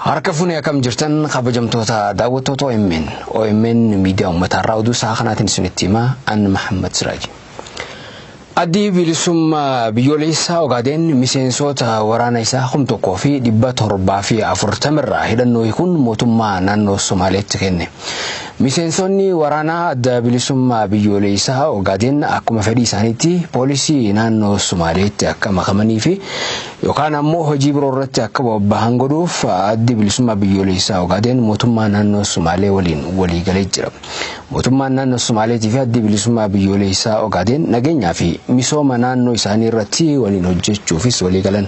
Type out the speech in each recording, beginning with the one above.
Harka fuunee akkam jirtan kabajamtoota daawwattoota OMN. OMN miidiyaa uummataa irraa oduu isaa kanaatiin isinitti himaa an Mahammad Siraaji. Addi bilisummaa biyyoolessaa Ogaadeen miseensoota waraana isaa kum tokkoo fi dhibba torbaa fi afurtama irraa hidhannoo hiikuun mootummaa naannoo Somaaleetti kenne. Miseensonni waraanaa adda bilisummaa biyyoolessaa Ogaadeen akkuma fedhii isaaniitti poolisii naannoo Somaaleetti akka makamanii fi yookaan ammoo hojii biroo irratti akka bobbahan godhuuf Addi Bilisummaa Biyyooleessaa Ogaadeen mootummaa naannoo Sumaalee waliin walii galee jira. Mootummaan naannoo Sumaaleetii fi Addi Bilisummaa Biyyooleessaa Ogaadeen nageenyaa fi misooma naannoo isaanii irratti waliin hojjechuufis walii galan.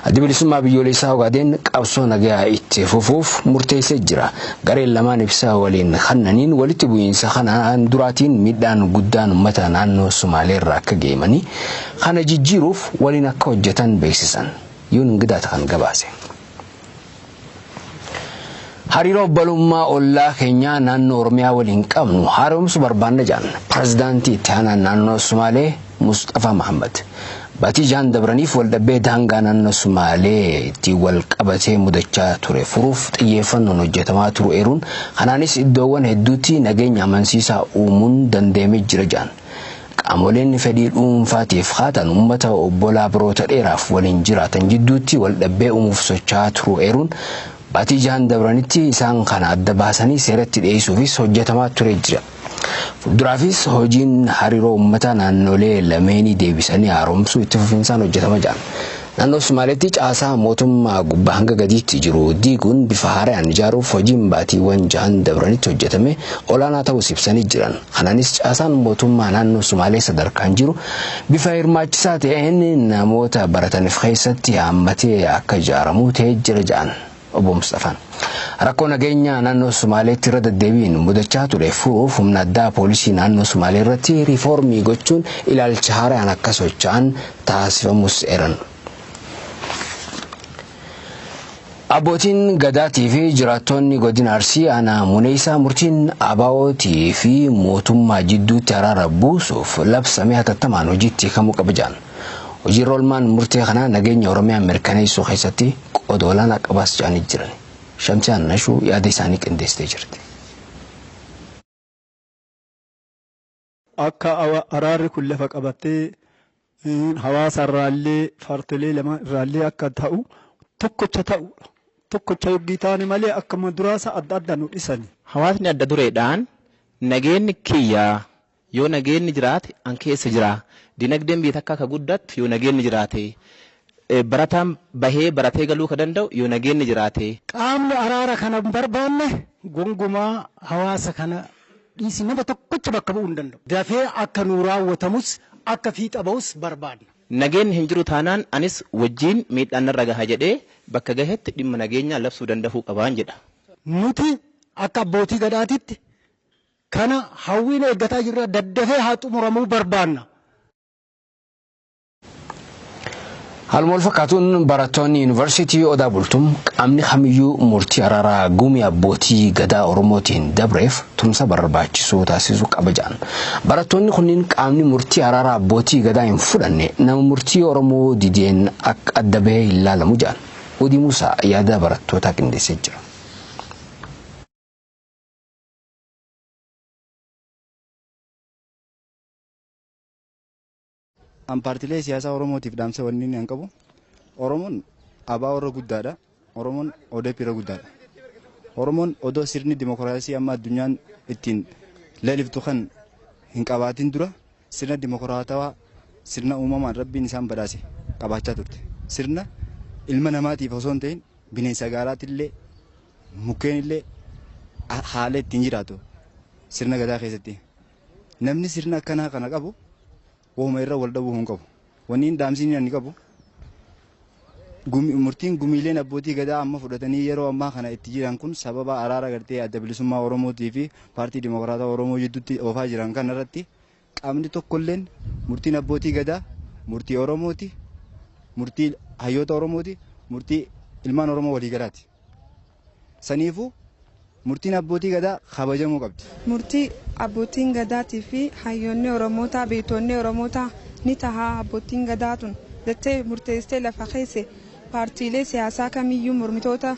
Addi Bilisummaa Biyyooleessaa Ogaadeen qabsoo nagayaa itti fufuuf murteessee jira. Gareen lamaan ibsa waliin kannaniin walitti bu'iinsa kanaan duraatiin miidhaan guddaan uummata naannoo Sumaalee irra akka ga'e himanii, Kana jijjiiruuf waliin akka hojjetan beeksisan Yuun Ingidaat kan gabaase. Hariiroo obbolummaa ollaa keenyaa naannoo Oromiyaa waliin qabnu haaromsu barbaanna jedhan Pirezidaantii Itti Aanaan Naannoo Sumaalee Musxafaa Mahammad. Batii jahan dabraniif waldhabbee daangaa naannoo Sumaalee ittiin wal qabatee mudachaa ture furuuf xiyyeeffannoon hojjetamaa turu eeruun kanaanis iddoowwan hedduutti nageenya amansiisaa uumuun danda'amee jira jedhan. Qaamoleen fedhii dhuunfaatiif kaatan uummata obbolaa baroota dheeraaf waliin jiraatan jidduutti waldhabbee uumuuf socho'aa turuu eeruun, baatii jahan dabranitti isaan kana adda baasanii seeratti dhiyeessuufis hojjetamaa turee jira. Fuulduraafis hojiin hariiroo uummataa naannoolee lameenii deebisanii haaromsuu itti fufinsaan hojjetama jedhan. Naannoo Sumaaleetti caasaa mootummaa gubbaa hanga gadiitti jiru diiguun bifa haarayaan ijaaruuf hojiin baatiiwwan jahan dabranitti hojjetame olaanaa ta'uus ibsanii jiran. Kanaanis caasaan mootummaa naannoo Sumaalee sadarkaan jiru bifa hirmaachisaa ta'een namoota barataniif keessatti haammatee akka ijaaramu ta'ee jira jedhan. Obbo Musxafaan. Rakkoo nageenyaa naannoo Sumaaleetti irra deddeebiin mudachaa ture furuuf humna addaa poolisii naannoo Sumaalee irratti riifoormii gochuun ilaalcha haaraan akka socho'an taasifamuus eeran. Abbootiin Gadaatii fi jiraattoonni godina Arsii aanaa Muneessaa murtiin ABOtii fi mootummaa jidduutti araara buusuuf labsame hatattamaan hojiitti hiikamuu qaba jedhan. Hojiirra olmaan murtee kanaa nageenya Oromiyaa mirkaneessuu keessatti qooda olaanaa qabaas jedhanii jiran. Shamsiyaan Nashuu yaada isaanii qindeessitee jirti. Akka araarri kun lafa qabatee hawaasa irraallee paartilee lamaan irraallee akka ta'u tokkocha ta'uudha. Tokkocha yoggii taane malee akkuma duraasa adda adda nu dhisani. Hawaasni adda dureedhaan nageenni kiyya Yoo nageenni jiraate an keessa jira. Dinagdeen biyya takkaa ka guddattu yoo nageenni jiraate. Barataan bahee baratee galuu ka danda'u yoo nageenni jiraate. Qaamni araara kana hin barbaanne gongumaa hawaasa kana dhiisii nama tokkocha bakka bu'uu hin danda'u. Dafee akka nuu raawwatamus akka fiixa bahus barbaadna. Nageenni hin jiru taanaan anis wajjiin miidhaan narra gaha jedhee bakka gahetti dhimma nageenyaa labsuu dandahuu qabaan jedha. Nuti akka abbootii Gadaatitti Kana hawwiin eeggataa jirra. Daddafee haa xumuramuu barbaanna. Haaluma walfakkaatuun barattoonni Yuunivarsiitii Odaa Bultum qaamni kamiyyuu murtii araaraa Gumii Abbootii Gadaa Oromootiin dabreef tumsa barbaachisu taasisuu qaba jedhan. Barattoonni kunniin qaamni murtii araaraa Abbootii Gadaa hin fudhanne nama murtii Oromoo dideen akka adda bahee hin laalamu jedhan. Uudii Muusaa yaada barattootaa qindeessee jira. An paartilee siyaasaa Oromootiif dhaamsa wanni inni an qabu Oromoon abaa warra guddaadha. Oromoon ODP irra guddaadha. Oromoon odoo sirni dimokiraasii amma addunyaan ittiin leeliftu kan hin qabaatin dura sirna dimokiraatawaa sirna uumamaan rabbiin isaan badhaase qabaachaa turte. Sirna ilma namaatiif osoo hin ta'in bineensa gaalaatti illee Mukkeen illee haala ittiin jiraatu sirna gadaa keessatti namni sirna akkanaa kana qabu uuma irra wal dhabuu hin qabu. Wanni hin dhaamsiin inni qabu murtiin gumiileen abbootii gadaa amma fudhatanii yeroo ammaa kana itti jiran kun sababa araara gartee adda bilisummaa Oromootii fi paartii dimokiraataa Oromoo jidduutti oofaa jiran kanarratti Qaamni tokkolleen murtiin abbootii gadaa murtii Oromooti, murtii hayyoota Oromooti, murtii ilmaan Oromoo waliigalaati. Saniifuu murtiin abbootii gadaa kabajamuu qabdi. Murtii abbootiin gadaatii fi hayyoonni Oromootaa, beeytoonni Oromootaa ni taha abbootiin gadaa tun jettee murteessitee lafa keesse paartiilee siyaasaa kamiyyuu mormitoota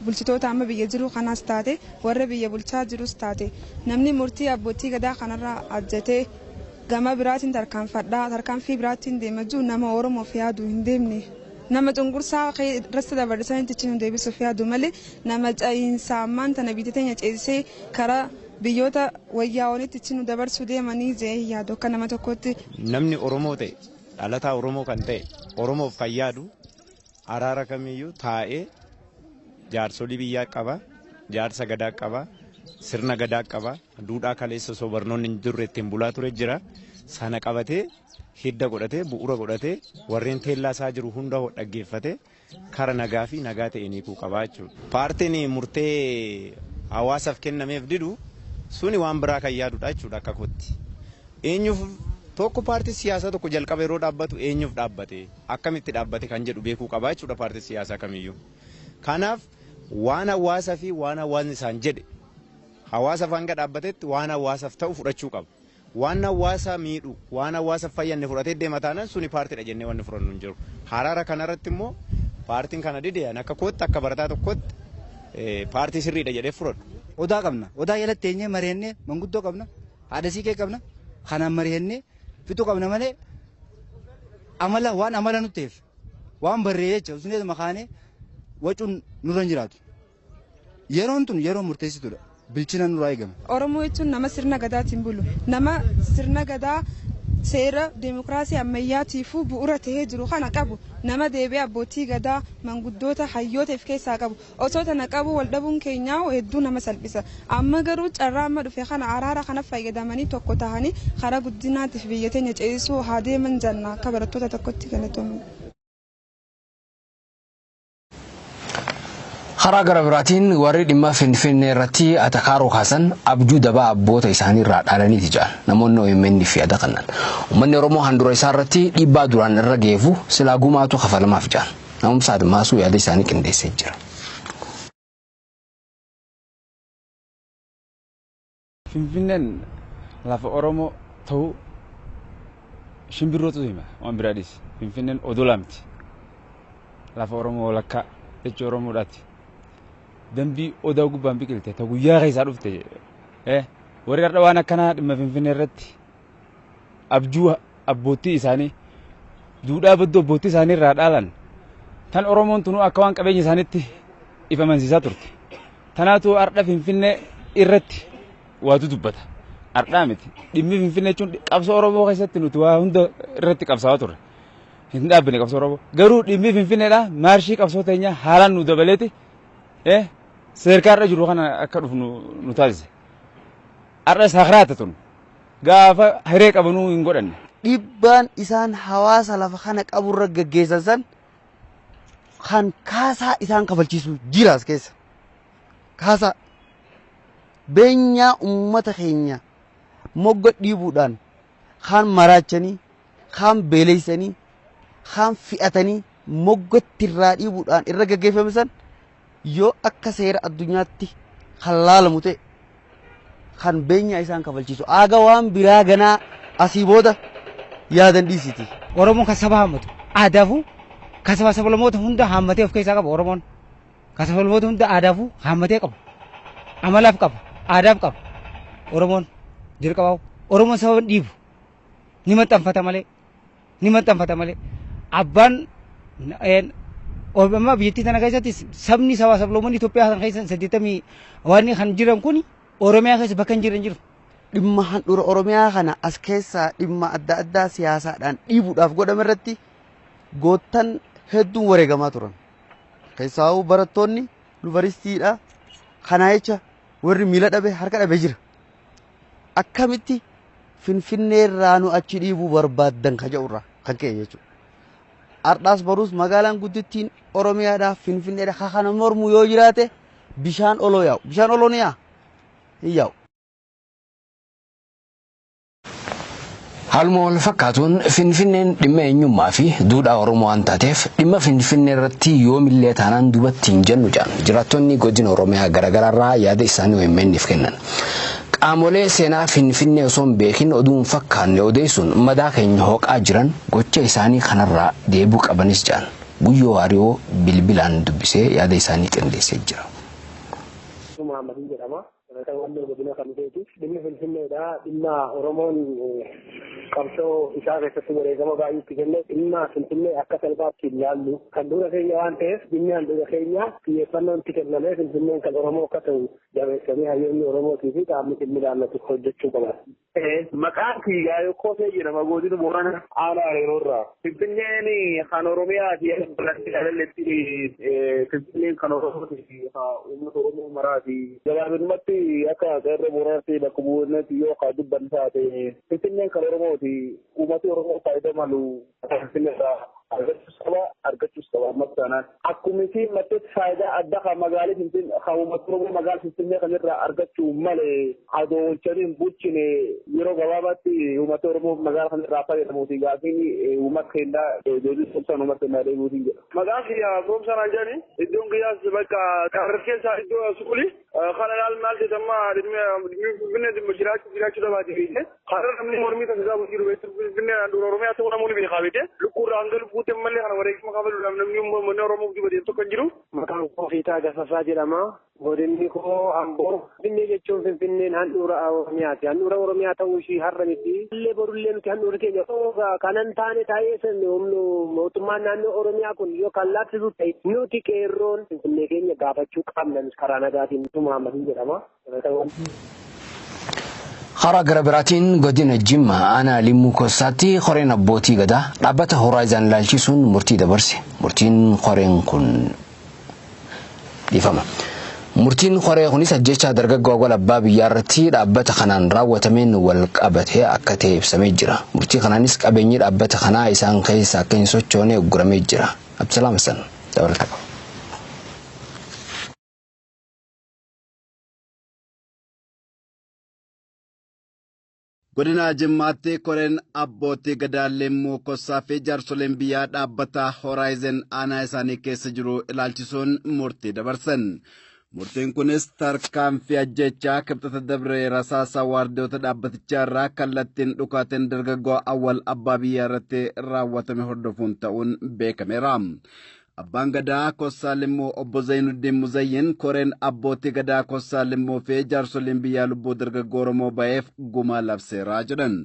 bulchitoota amma biyya jiruu kanaas taate warra biyya bulchaa jirus taate namni murtii abbootii gadaa kanarraa ajjatee gama biraatiin tarkaanfadhaa tarkaanfii biraattiin deema jiru nama oromoof yaadu hin deemne nama cunqursaa irratti dabarsan itti nu deebisuuf yaadu malee nama ca'iinsa ammaan tana biyya teenya ceesisee karaa biyyoota wayyaawanitti itti nu dabarsuu deemanii jee hin yaadu akka nama tokkootti. Namni Oromoo ta'e dhalataa Oromoo kan ta'e Oromoof kan yaadu Araara kamiyyuu taa'ee jaarsolii biyyaa qaba, jaarsa gadaa qaba, sirna gadaa qaba, duudhaa kaleessa osoo barnoonni hin jirre ittiin bulaa ture jira. Sana qabatee hidda godhatee bu'uura godhatee warreen teellaa isaa jiru hunda dhaggeeffatee kara nagaa fi nagaa ta'een hiikuu qaba jechuudha. Paartiin murtee hawaasaaf kennameef didu suni waan biraa kan yaadudha jechuudha akka kootti. Eenyuuf tokko paartiin siyaasaa tokko jalqaba yeroo dhaabbatu eenyuuf dhaabbate? akkamitti dhaabbate kan jedhu beekuu qaba jechuudha paartiin siyaasaa kamiyyuu. Kanaaf waan hawaasa fi waan hawaasni isaan jedhe hawaasaaf hanga dhaabbatetti waan hawaasaaf ta'u fudhachuu qaba. Waan hawaasa miidhu waan hawaasaaf fayyanne fudhatee deema taanaan suni paartiidha jennee wanni fudhannu hin jiru. Haraara kanarratti immoo paartiin kana dide ani akka kootti akka barataa tokkotti paartii sirriidha jedhee fudhadhu. Odaa qabna. Odaa jalatti teenyee mari'annee manguddoo qabna. Haadha siiqee qabna. Kanaan mari'annee Fixu qabna malee amala waan amala nutti ta'eef waan barree jecha usuneetu makaanee wacuun nurra hin jiraatu. Yeroon tun yeroo murteessituudha. Bilchina nurraa eegama. Oromoo jechuun nama sirna gadaatiin bulu. Nama sirna gadaa seera deemokiraasii ammayyaatiifuu bu'uura ta'ee jiru kana qabu. Nama deebi'ee abbootii gadaa, manguddoota, hayyoota of keessaa qabu. Osoo tana qabuu wal dhabuun keenya hedduu nama salphisa. Amma garuu carraa amma dhufe kana araara kana fayyadamanii tokko tahanii karaa guddinaatiif biyya teenya ceesisuu haa deeman janna akka barattoota tokkotti galatooma. Karaa gara biraatiin warri dhimma Finfinnee irratti atakaaroo kaasan abjuu dabaa abboota isaanii irraa dhaalaniiti jedhan namoonni OMN fi yaada kannan. Uummanni Oromoo handura isaa irratti dhiibbaa duraan irra geefu silaa gumaatu kafalamaaf jedhan. Na'umsa Admaasuu yaada isaanii qindeessee jira. Finfinneen lafa Oromoo ta'uu shimbirrootu hima waan biraa dhiisi. Finfinneen odola miti. Lafa Oromoo walakkaa jechi Oromoodhaati. Dambii odaa gubbaan biqilte ta guyyaa keessaa dhufte. Warri har'a waan akkanaa dhimma Finfinnee irratti abjuu abboottii isaanii duudhaa badduu abboottii isaanii irraa dhaalan tan Oromoon tunuu akka waan qabeenya isaaniitti if amansiisaa turte. Tanaatu har'a Finfinnee irratti waatu dubbata. Har'aa miti. Dhimmi Finfinnee jechuun qabsoo Oromoo keessatti nuti waa hunda irratti qabsaa'aa turre. Hin dhaabbine qabsoo Oromoo. Garuu dhimmi Finfinneedha maarshii qabsoo teenyaa haalaan nu dabaleeti seerkaa irra jiru kana akka dhufnu nu taasise. Har'as hakraata tun. Gaafa hiree qabanuu hin godhanne. Dhibbaan isaan hawaasa lafa kana qaburra gaggeessan san kan kaasaa isaan kafalchiisu jira as keessa. Kaasaa beenyaa uummata keenya mogga dhiibuudhaan kaan maraachanii, kaan beeleysanii, kaan fi'atanii moggatti irraa dhiibuudhaan irra gaggeeffame san yoo akka seera addunyaatti kan laalamu ta'e kan beenyaa isaan kafalchiisu aaga waan biraa ganaa asii booda yaadan dhiisiti. Oromoon kan saba haammatu aadaafuu kan sabaa sablamoota hunda haammatee of keessaa qaba Oromoon. Kasafolboota hunda aadaafuu haammatee qaba. Amalaaf qaba. Aadaaf qaba. Oromoon jalqabaa Oromoon sababa hin dhiibu. Ni maxxanfata malee. Ni maxxanfata malee. Abbaan amma biyyattii tana keessatti sabni sabaa sabloomonni Itoophiyaa kan keessa saddeettamii waan kan jiran kun Oromiyaa keessa bakka hin jiran jiru. Dhimma handhuura Oromiyaa kana as keessaa dhimma adda addaa siyaasaadhaan dhiibuudhaaf godhame irratti goottan hedduun wareegamaa turan. Keessaawuu barattoonni yunivarsiitiidha kanaa jecha warri miila dhabe harka dhabe jira. Akkamitti Finfinnee irraa nu achi dhiibuu barbaaddan ka jedhu irraa kan ka'e jechuudha. Ardhaas baruus magaalaan guddittiin Oromiyaadhaa Finfinneedha ka kana mormu yoo jiraate bishaan oloo yaa'u. Bishaan oloo ni yaa'a? Hin yaa'u. Haaluma wal fakkaatuun Finfinneen dhimma eenyummaa fi duudhaa Oromoo waan taateef dhimma Finfinnee irratti yoomillee taanaan duubatti hin jennu jedhan jiraattonni godina Oromiyaa garaagaraarraa yaada isaanii OMN'f kennan. Qaamolee seenaa Finfinnee osoo hin beekin oduu hin fakkaanne odeessuun madaa keenya hooqaa jiran gocha isaanii kanarraa deebuu qabanis jedhan. Guyyoo Waariyoo bilbilaan dubbisee yaada isaanii qindeessee jira. Sumaamadii jedhama. Dhalata Walloo Godina Kamiseeti. Dhimmi Finfinneedha. Dhimma Oromoon qabsoo isaa keessatti wareegama baay'ee itti kenne dhimma Finfinnee akka salphaatti hin laallu. Handhuura keenya waan ta'eef dhimmi handhuura keenya xiyyeeffannoon itti kennamee Finfinneen kan Oromoo akka ta'u jabeessanii hayyoonni Oromootii fi qaamni dhimmi ilaallatu hojjechuu qaban. Maqaan kiyyaa Yokkosee jedhama godina Boorana aanaa Areeroo irraa. Finfinneen kan Oromiyaati balatti dhalalletti Finfinneen kan Oromooti uummata Oromoo maraati. Gabaabinumatti akka qeerroo Booranaatti bakka bu'uuratti yoo ka dubban taate Finfinneen kan Oromooti uummati Oromoo faayidaa malu Tarkaanfiin irraa argachuus qaba argachuus qaba ammas taanaan akkumitiin matteetti faayidaa adda kan magaalii finfinnee kan uummata oromoo magaala finfinnee kan irraa argachuu malee adoo olchanii hin bulchine yeroo gabaabaatti uummata oromoo magaala kan irraa fayyadamuuti gaafiin uummata keenyaa deebii sobsaan uummata keenyaa deebiitiin jedha. Maqaan kiyyaa Goomsaa naan jedhani iddoon kiyyaas bakka qarqar keessaa iddoo suqulii. Kana laal maal ta'e amma dhimmi finfinnee dhimma jiraachuu jiraachuu dhabaate beekne har'a namni mormii kan isaa bulchuu dhufe finfinnee handhuura oromiyaa ta'uu namoonni beekaa beekte lukkuurraa hanga lubbuutti ammallee kana wareegama kafaluudhaaf namni uummanni oromoo guddi badeef tokko hin jiru. Maqaan koo Fiitaa Gasasaa jedhama. Godinni koo Amboo. Finfinnee jechuun Finfinneen handhuura Oromiyaati. Handhuura Oromiyaa ta'uu ishii har'a miti. Illee borullee miti handhuurri keenya. Kanan taane taa'ee sirni humni mootummaan naannoo Oromiyaa kun yoo kan laaffisuuf ta'e nuti qeerroon Finfinnee keenya gaafachuu qabna. Karaa nagaatiin Ibsuu Mahaammadin jedhama. Karaa gara biraatiin godina Jimmaa aanaa Limmuu Kossaatti koreen abbootii gadaa dhaabbata Horaayizaan ilaalchisuun murtii dabarse. Murtiin koreen kun dhiifama. Murtiin koree kunis ajjechaa dargaggoo Awwal Abbaa Biyyaa irratti dhaabbata kanaan raawwatameen wal qabatee akka ta'e ibsamee jira. Murtii kanaanis qabeenyi dhaabbata kanaa isaan keessa akka hin sochoone ugguramee jira. Abdusalaam Hassan dabalataa qaba. Godina Jimmaatti koreen abbootii gadaa Leemmuu Kossaa fi jaarsoleen biyyaa dhaabbata Hooraayizen aanaa isaanii keessa jiru ilaalchisuun murtii dabarsan. Murtiin kunis tarkaanfii ajjechaa kibxata dabre rasaasa waardiyoota dhaabbatichaa irraa kallattiin dhukaateen dargaggoo awwal abbaa biyyaa irratti raawwatame hordofuun ta'uun beekameera. Abbaan gadaa Kossaa Limmuu obbo Zayinuddiin Muzayyin koreen abbootii gadaa Kossaa Limmuu fi jaarsoliin biyyaa lubbuu dargaggoo Oromoo ba'eef gumaa labseera jedhan.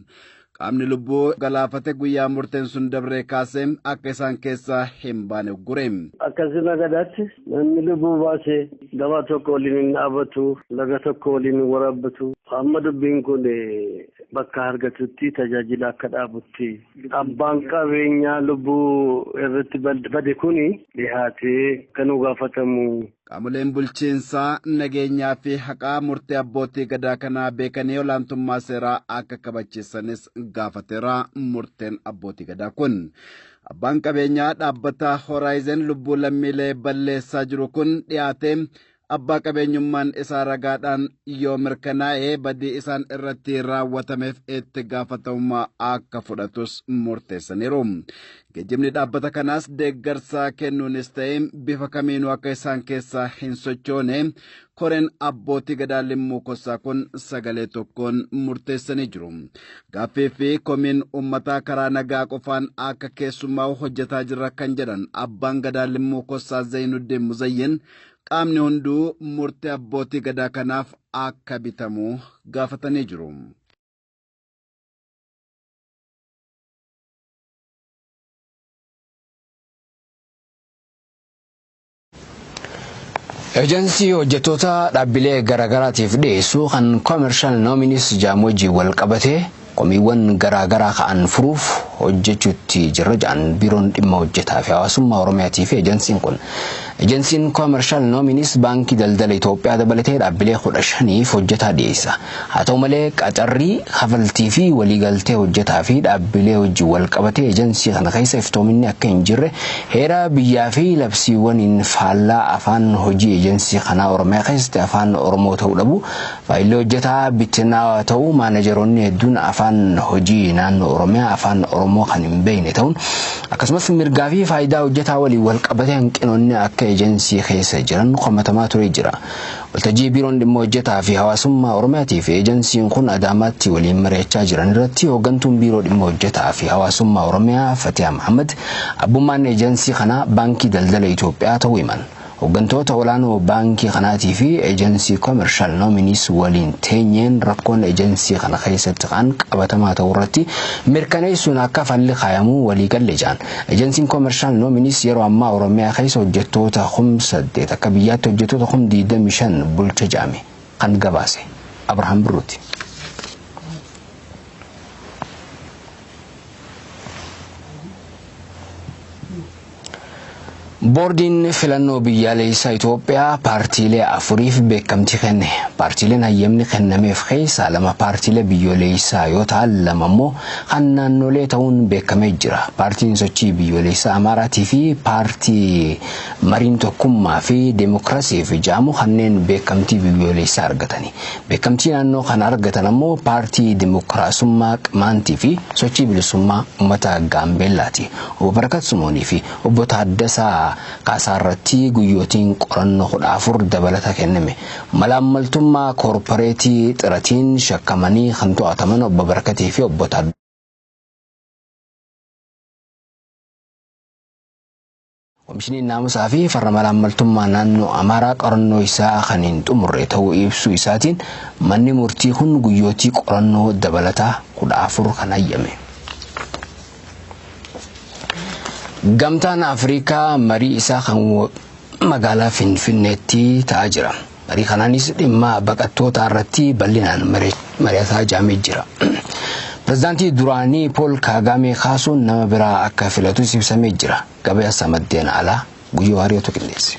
qaamni lubbuu galaafate guyyaa murteen sun dabree kaasee akka isaan keessaa hin baane uggure. Akka sirna gadaatti namni lubbuu baase gabaa tokko waliin hin dhaabatu, laga tokko waliin hin waraabbatu. Amma dubbiin kun bakka argatutti tajaajila akka dhaabutti abbaan qabeenyaa lubbuu irratti bade kun dhihaatee kan gaafatamu Qaamoleen bulchiinsaa, nageenyaa fi haqaa murtee abbootii gadaa kanaa beekanii olaantummaa seeraa akka kabachiisanis gaafateera murteen abbootii gadaa kun. Abbaan qabeenyaa dhaabbata Hooraayizen lubbuu lammiilee balleessaa jiru kun dhiyaatee abbaa qabeenyummaan isaa ragaadhaan yoo mirkanaa'e badii isaan irratti raawwatameef itti gaafatamummaa akka fudhatus murteessaniiru. Geejjibni dhaabbata kanaas deeggarsaa kennuunis ta'e bifa kamiinuu akka isaan keessaa hin sochoone koreen abbootii gadaa limmuu kossaa kun sagalee tokkoon murteessanii jiru. Gaaffii fi komiin uummataa karaa nagaa qofaan akka keessummaa'u hojjetaa jirra kan jedhan abbaan gadaa limmuu kossaa Zayinuddin Muzayyin qaamni hunduu murtee abbootii gadaa kanaaf akka bitamu gaafatanii jiru. Eejansii hojjettoota dhaabbilee garaagaraatiif dhiyeessu kan koomershaal noominis jaamu wajjin wal qabatee komiiwwan garaagaraa ka'an furuuf hojjechuutti jirra jedhan biiroon dhimma hojjetaa fi hawaasummaa Oromiyaatii fi eejansiin kun. Eejansiin koomershaal noominis baankii daldala Itoophiyaa dabalatee dhaabbilee kudha shaniif hojjetaa dhiyeessa. Haa ta'u malee, qacarri, kafaltii fi waliigaltee hojjetaa fi dhaabbilee wajjin walqabatee ejansii kana keessa iftoominni akka hin jirre heera biyyaa fi labsiiwwaniin faallaa afaan hojii ejansii kanaa Oromiyaa keessatti afaan Oromoo ta'uu dhabuu faayilli hojjetaa bittinaawaa ta'uu maanajaroonni hedduun afaan hojii naannoo Oromiyaa afaan Oromoo kan hin beekne ta'uun akkasumas mirgaa fi faayidaa hojjetaa waliin walqabatee hanqinoonni akka ejansii keessa jiran komatamaa turee jira. Waltajjii Biiroon Dhimma Hojjetaa fi Hawaasummaa Oromiyaatii fi Eejansiin kun Adaamaatti waliin mari'achaa jiran irratti Hooggantuun Biiroo Dhimma Hojjetaa fi Hawaasummaa Oromiyaa Fatiyaa Mahaammad abbummaan Eejansii kanaa Baankii Daldala Itoophiyaa ta'uu himan. Hooggantoota olaanoo baankii kanaatii fi Eejansii Commercial Nominees waliin teenyeen rakkoon Eejansii kana keessatti ka'an qabatamaa ta'uu irratti mirkaneessuun akka falli kaayamu waliigalle jedhan. Ejensiin Koomershaal Noominiis yeroo ammaa Oromiyaa keessa hojjettoota kum 8 akka biyyaatti hojjettoota kum 25 bulcha jedhame kan gabaase Abrahaam Birruuti. Boordiin Filannoo Biyyaaleessaa Itoophiyaa paartiilee afuriif beekamtii kenne. Paartiileen hayyamni kennameef keessaa lama paartiilee biyyooleessaa yoo ta'an lama immoo kan naannolee ta'uun beekamee jira. Paartiin Sochii Biyyooleessaa Amaaraatii fi Paartii Mariin Tokkummaa fi Demokrasiif ja'amu kanneen beekamtii biyyooleessaa argatani. Beekamtii naannoo kan argatan ammoo Paartii Demokraasummaa Qimaantii fi Sochii Bilisummaa Ummata Gaambeellaati. Obbo Barakat Simoonii fi Obbo Taaddasaa Kaasaarratti guyyootiin qorannoo 14 dabalata kenname. Malaammaltummaa koorporeetii Xiratiin shakkamanii kan to'ataman Obbo Barakatii fi Obbo Komishiniin Naamusaa fi Farra Malaammaltummaa Naannoo Amaaraa qorannoo isaa kan hin xumurre ta'uu ibsuu isaatiin manni murtii kun guyyootii qorannoo dabalataa 14 kan hayyame. Gamtaan Afrikaa marii isaa kan magaalaa Finfinneetti ta'aa jira. Marii kanaanis dhimma baqattootaa irratti bal'inaan mari'ataa jaamee jira. Pireezidaantii duraanii Pool Kaagaamee kaasuun nama biraa akka filatus ibsamee jira. Gabaasa maddeen alaa Guyyoo Hariyootu qindeesse.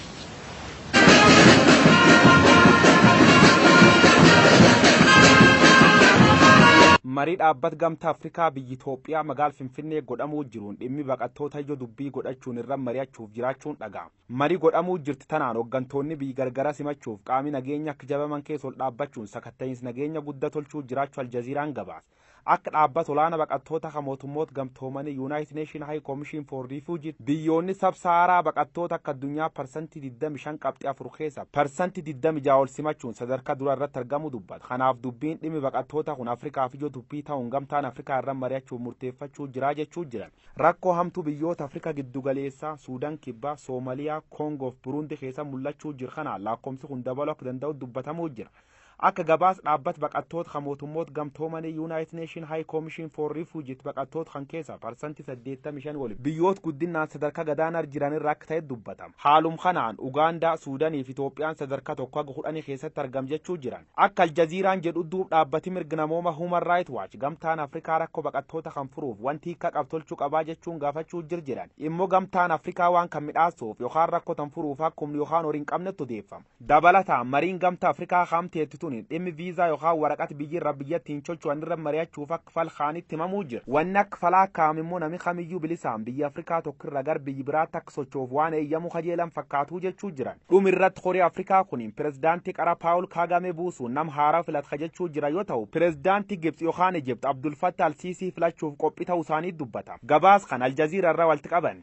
Marii Dhaabbat Gamta Afrikaa biyyi Itoophiyaa magaal Finfinnee godhamuu jiruun dhimmi baqattoota ijoo dubbii godhachuun irra mari'achuuf jiraachuun dhaga'ama. Marii godhamuu jirti tanaan hoggantoonni biyyi gargara simachuuf qaami nageenya akka jabaman keessa ol dhaabbachuun sakatta'iins nageenya gudda tolchuu jiraachu Aljaziiraan gabaase. Akka dhaabbata olaana baqattoota ka mootummoota gamtoomanii Yuunaayitid Neeshin Hayi Koomishin for Riifuuji biyyoonni sab sahaaraa baqattoota akka addunyaa parsantii 25 qabxii 4 keessa parsantii 26 ol simachuun sadarkaa duraa irratti argamuu dubbata. Kanaaf dubbiin dhimmi baqattootaa kun Afrikaaf ijoo dubbii ta'uun gamtaan Afrikaa irra mari'achuuf murteeffachuu jira jechuu jiran. Rakkoo hamtuu biyyoota Afrikaa giddu galeessaa, Suudan Kibbaa, Soomaliyaa, Koongoo fi Buruundi keessatti mul'achuu jiru kanaan laakkomsi kun dabaluu akka danda'u dubbatamuu jira. Akka gabaas dhaabbat baqattoot ka mootummoot gamtoomanii Unite Nation High Commission for Refugit baqattoot kan keessa parsanti 85 oli biyyoot guddinnaan sadarka gadaanar jiran irra akka ta'et dubbatam. Haalum kanaan Ugaandaa, Suudanii fi Itoophiyaan sadarka 1 haga 10 keessatti argam jechuu jiran. Akka Aljaziiraan jedhut duub dhaabbati mirg namooma Human Right Watch gamtaan Afrikaa rakko baqattoota kan furuuf wanti hikka qab tolchu qabaa jechuun gaafachuu jir jiran immo gamtaan Afrikaa waan kan midhaassuuf yokaan rakko tan furuuf akkumn yokaan hori hin qabnett odeeffam. Dabalataan, mariin Gamta Afrikaa kaam teetti tuni dhimmi viizaa yokaan waraqat biyyi irra biyya ittiin chocho'an irra mari'achuuf akk fal kaanitti himamuu jira. Wanni akk falaa kaa'am immoo nami kamiyyuu bilisaan biyya Afrikaa tokko irra gar biyyi biraatti akk socho'uuf waan eeyyamu kajeelan fakkaatuu jechuu jiran. Dhum irratt kori Afrikaa kuniin pirezidaanti qara Paul Kagame buusuun nam haaraw filat ka jechuu jiran yoo tahu, pirezidaanti Gibts yokaan Egypt Abdul Fattah al-Sisi filachuuf qophii tahuu isaanii dubbatama. Gabaas kan Al Jazeera irra walitt qabame.